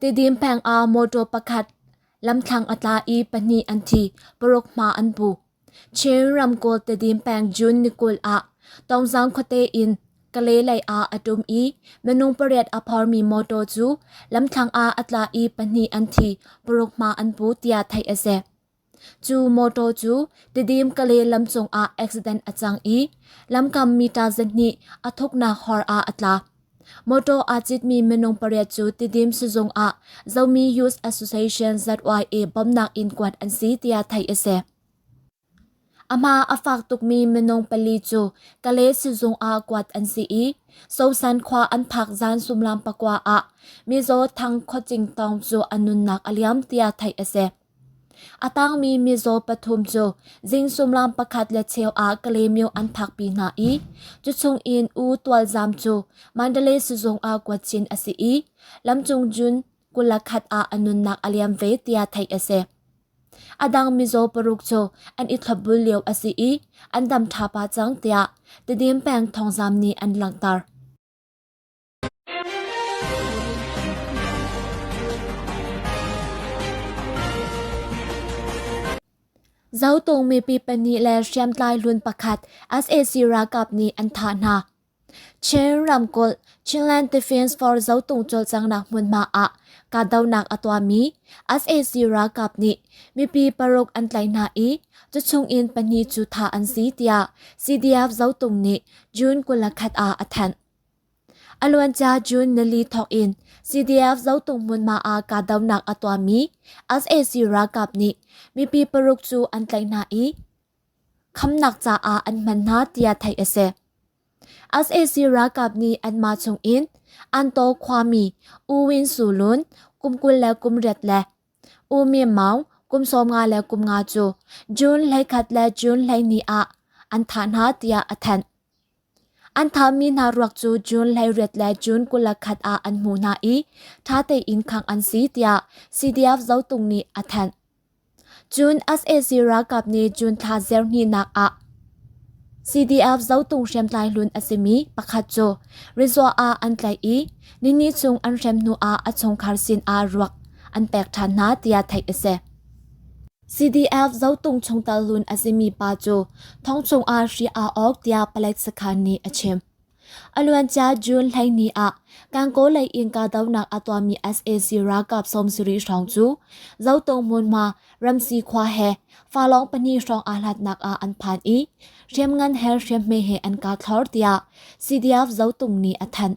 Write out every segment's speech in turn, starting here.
Tidim pengah motor pakhat lamthlang a tla i pahnih an thi, paruk hma an pu. Chin ramkulh Tidim peng June ni kul ah Tawngzang khuate in Kale lei ah a ṭum i minung pariat a phormi motor cu lamthlang ah a tla i pahnih an thi, paruk hma an pu tiah theih a si. Cu motor cu Tedim Kale lam cungah accident a cang i lamkam meter zahnih a thuknak hor ah a tla. Motor aa citmi minung pariat cu Tedim sizung ah Zomi Youth Association ZYA bawmhnak in kuat an si tiah theih a si. A hma a fak tukmi minung pali cu Kale sizung ah kuat an si i Sosan khua an phak zan sumlam pakua ah Mizo Thang Khawcing Tong cu a nunnak a liam tiah theih a si. A tangmi mizaw pathum cu zing sullam pakhat le cheu ah Kalemyo an phakpi hna i cuchung in U Tualzam cu Mandalay sizung ah kuat chin a si i lamcung June kul le khat ah a nunnak a liam ve tiah theih a si. A dang mizaw paruk cu an i thlopbul lio a si i an dam ṭha pah cang tiah Tedim peng thawngzamh nih an langhter. Zotung mipi pahnih le hriamtlai hlun pakhat sac ralkap nih an thah hna. Chin ramkulh Chinland Defence Force Zotung cawlcanghnak hmunhma ah kahdohnak a tuahmi sac ralkap nih mipi paruk an tlaih hna i tuchung in pahnih cu thah an si tiah CDF Zotung nih June kul le khat ah a thanh. A luancia June nili thawk in CDF Zotung hmunhma ah kahdohnak a tuahmi sac ralkap nih mipi paruk cu an tlaih hna i khamnak caah an hman hna tiah theih a si. sac ralkap nih anmah chung in Antaw khuami U Win Su Lun kum kul le kum riat le U Myin Maung kum sawmnga le kum nga cu June hleikhat le June hleihnih ah an thah hna tiah a thanh. An thahmi hna ruak cu June leiriat le June kul le khat ah an hmuh hna i ṭha tein khangh an si tiah CDF zotung nih a thanh. Cun sac ralkap nih June thla zirhnihnak ah CDF zotung hriamtlai hlun a simi pakhat cu resort ah an tlaih i nini chung an hrem hnuah a chungkhar sinah ruak an pek ṭhan hna tiah theih a si. CDF zotung chungtel lun a simi pa cu thongchung ah hri aa awk tiah palek sakhan nih a chim. A luancia June hleini ah Kankaw lei in kahdohnak a tuahmi SAC ralkap sawmsarih hrawng cu Zotung hmunhma Ramsi khua he falawng pahnih hrawng aa hlatnak ah an phan i hriamngan he hriamhme he an kah thlor tiah CDF Zotung nih a thanh.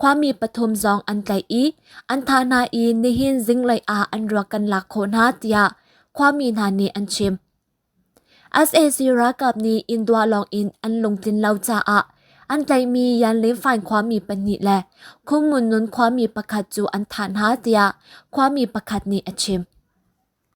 Khuami pathum zong an tlaih i an thah hna i nihin zinglei ah an ruak kan lak khawh hna tiah khuami hna nih an chim. SAC ralkap nih Indua lawng in an lungtlin lo caah an tlaihmi Yanlin Fain khuami pahnih le Khungnun Nun khuami pakhat cu an thah hna tiah khuami pakhat nih a chim.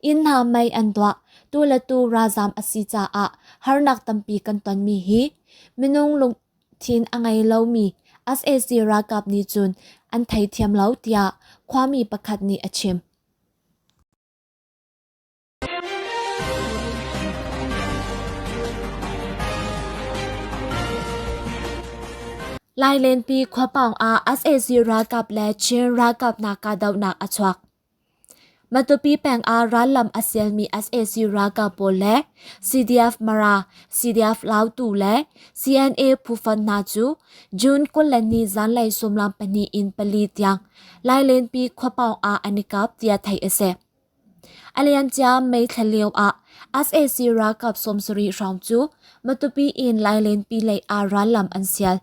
Inn hna mei an duah. Tu le tu ralzam a si caah harnak tampi kan tonmi hi minung lungthin a ngei lomi sac ralkap nih cun an theithiam lo tiah khuami pakhat nih a chim. Lailenpi khuapawng ah sac ralkap le Chin ralkap hna kahdohnak a chuak. Matupi peng ah rallam a sialmi sac ralkap pawl le CDF-Mara, CDF-Lautu le CNA phufa hna cu June kul le ni zanlei sawmlam pahnih in pali tiang Lailenpi khua pawng ah an i kap tiah theih a si. A liamcia May thla lio ah sac ralkap sawmsarih hrawng cu Matupi in Lailenpi lei ah rallam an sial.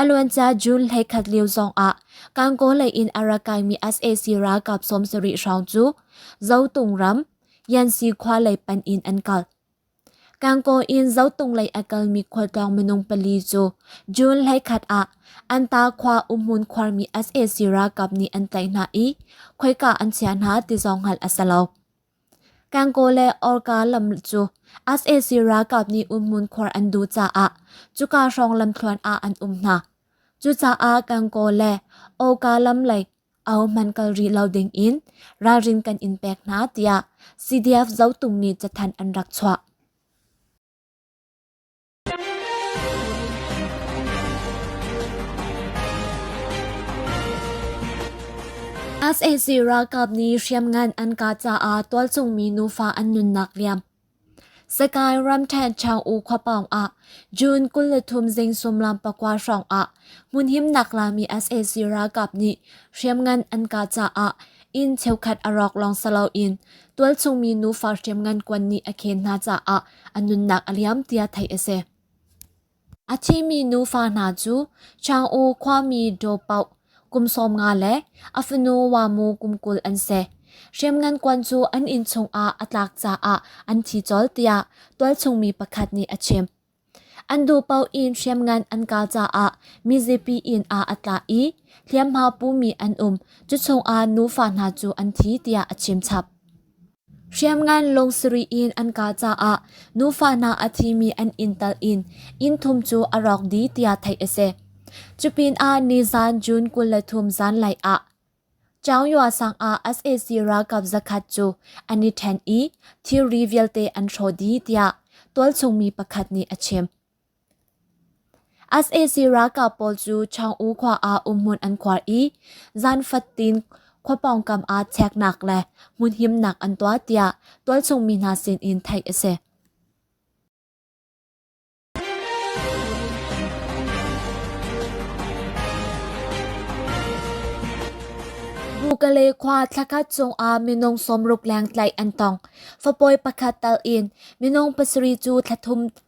A luancia June hleikhat lio zongah Kankaw lei in a ra kaimi sac ralkap sawmsarih hrawng cu Zotung ram Yansi khua lei panh in an kal. Kankaw in Zotung lei a kalmi khualtlawng minung pali cu June hleikhat ah Anta khua umhmun khuarmi sac ralkap nih an tlaih hna i khoika an chiah hna ti zong hngalh a si lo. Kangaw le Awrka lam cu sac ralkap nih umhmun khuar an duh caah cuka hrawng lamthluan ah an um hna. Cucaah Kangaw le Awrka lam lei ahohmanh kal rih lo dingin ralrin kan in pek hna tiah CDF Zotung nih cathanh an rak chuah. sac ralkap nih hriamngan an kah caah tualchungmi nufa an nunnak liam. Sakai ramthen Chang'u khuapawng ah June kul le thum zing sumlam pakua hrawng ah hmunhimnak lami sac ralkap nih hriamngan an kah caah inn cheukhat a rawk lawng salo in tualchungmi nufa hriamngan kuan nih a khen hna caah a nunnak a liam tiah theih a si. A thimi nufa hna cu Chang'u khuami Daw Pauk kum sawm nga le a fanu Wamu kum kul an si. Hriamngan kuan cu an inn chungah a tlak caah an thi colh tiah tualchungmi pakhat nih a chim. An duhpaoh in hriamngan an kal caah mizapi inn ah a tla i hliamhma pumi an um. Cuchungah nufa hna cu an thi tiah a chim chap. Hriamngan lung sarih in an kah caah nufa hna a thimi an inn tal in inn thum cu a rawk dih tiah theih a si. Cupinah nizan June kul le thum zanlei ah Chaungyoa sang ah sac ralkap zakhat cu an i ṭhen i thilri vialte an hrawh dih tiah tualchung mi pakhat nih a chim. sac ralkap pawl cu chang'u khua ah umhmun an khuar i zan fatin khua pawngkam ah cheknak le hmunhimnak an tuah tiah tualchungmi hna sinin theih a si bukale khua thlakhat chungah minung sawmruk leng tlaih an tong fapawi pakhat tal in minung pasarih cu thlathum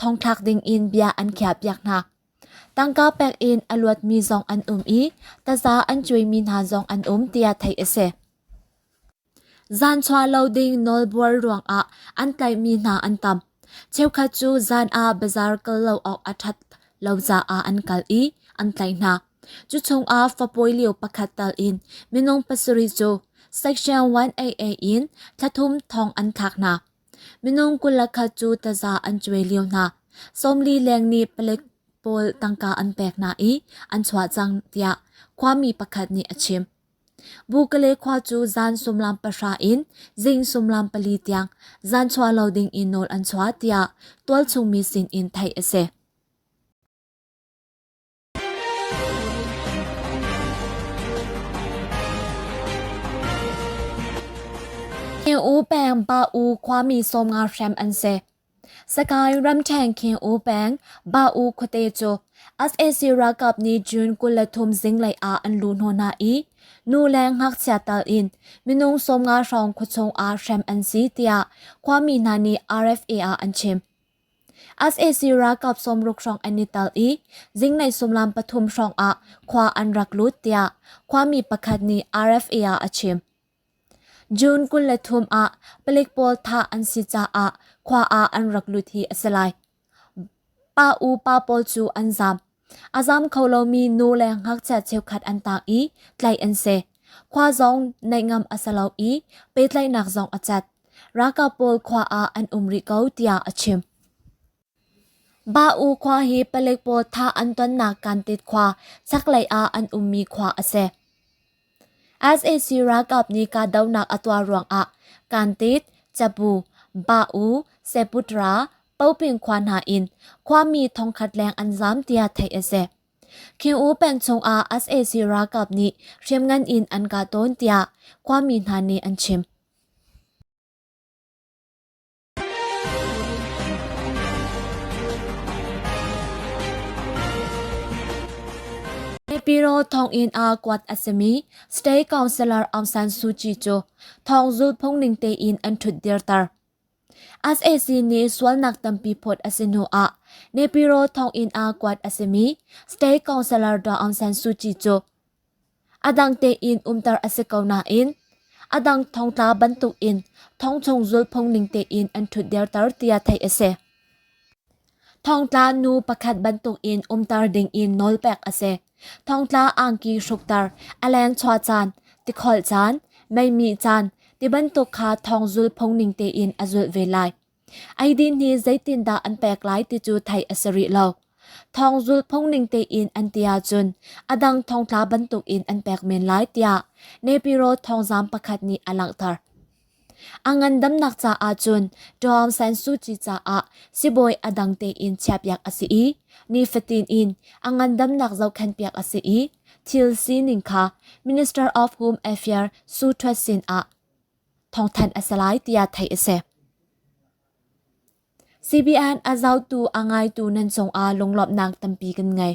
thongthlak ding in bia an khiahpiak hna. Tangka pek in a luatmi zong an um i taza an cuaimi hna zong an um tiah theih a si. Zanchua lo ding nawlbuar ruangah an tlaihmi hna an tam. Cheukhat cu zan ah bazar kal lo awk a ṭhat lo caah an kal i an tlaih hna. Cu chungah fapawi lio pakhat tal in minung pasarih cu Section 1AA in thlathum thong an thlak hna. Minung kul-le-khat cu taza an cuai lio hna. Sawmli leng nih palek pawl tangka an pek hna i an chuah cang, tiah khuami pakhat nih a chim. Bukale khua cu zan sumlam pahra in zing sumlam pali tiang zan chuah lo ding in nawl an chuah, tiah tualchungmi sin in theih a si. Khin U peng Pa U khuami sawm nga hrem an si. Sakae ramṭhen Khin U peng Pa U khuate cu SAC ralkap nih June kul le thum zinglei ah an luh hna hna i nu le ngakchia tal in minung sawm nga hrawng khuachung ah hrem an si tiah khuami hna nih RFA ah an chim. sac ralkap sawmruk hrawng an i tal i zingnei sullam pathum hrawng ah khua an rak lut tiah khuami pakhat nih RFA ah a chim. June kul le thum ah palik pawl thah an si caah khua ah an rak lut hi a si lai. Pa u pa pawl cu an zaam. A zam kho lomi nu le ngakchia cheukhat an taak i tlaih an si. Khua zong neihngam a si lo i pehtlaihnak zong a cat. Ralkap pawl khua ah an um rih ko tiah a chim. Ba-u khua hi palik pawl thah an tonnak Kantit khua chaklei ah an ummi khua a si. sac ralkap nih kahdohnak a tuah ruangah kantit cabu ba-u seputra popingkhua hna in khuami thongkhat leng an zaam tiah theih a si khiu peng chungah sac ralkap nih hriamngan in an kah tawn tiah khuami hna nih an chim Pipiro thonginn ah kuat a simi State Councillor Aung San Suu Kyi cu thong zulhphung ning tein an ṭhutdirter. SAC nih sualnak tampi phawt a si hnu ah Nepiro thonginn ah kuat a simi State Councillor Aung San Suu Kyi cu A dang tein umter a si ko nain a dang thongtla bantukin thongchung zulhphung ning tein an ṭhutderter tiah theih a si. Thongtla nu pakhat bantukin umter dingin nawlpek a si. Thongtla angki hrukter, a lengchuah caan, tikholh caan, meimi caan, ti bantuk kha thong zulhphung ning tein a zulh ve lai. Eidin nih zeitindah an pek lai ti cu theih a si rih lo. Thawng zul phungning tein an ti ahcun a dang thongtla bantuk in an pek men lai tiah Nepiro thawngzam pakhat nih a langhter. A ngandamnak caah cun Tom San Suu Kyi caah sibawi a dang tein chiahpiak a si i nifatin in a ngandamnak zohkhenh piak a si i thil sining kha Minister of Home Affairs Su Thwet sin ah thawngthanh a si lai tiah theih a si. CBN a zotu a ngaitu nan cungah lunglawmhnak tampi kan ngei.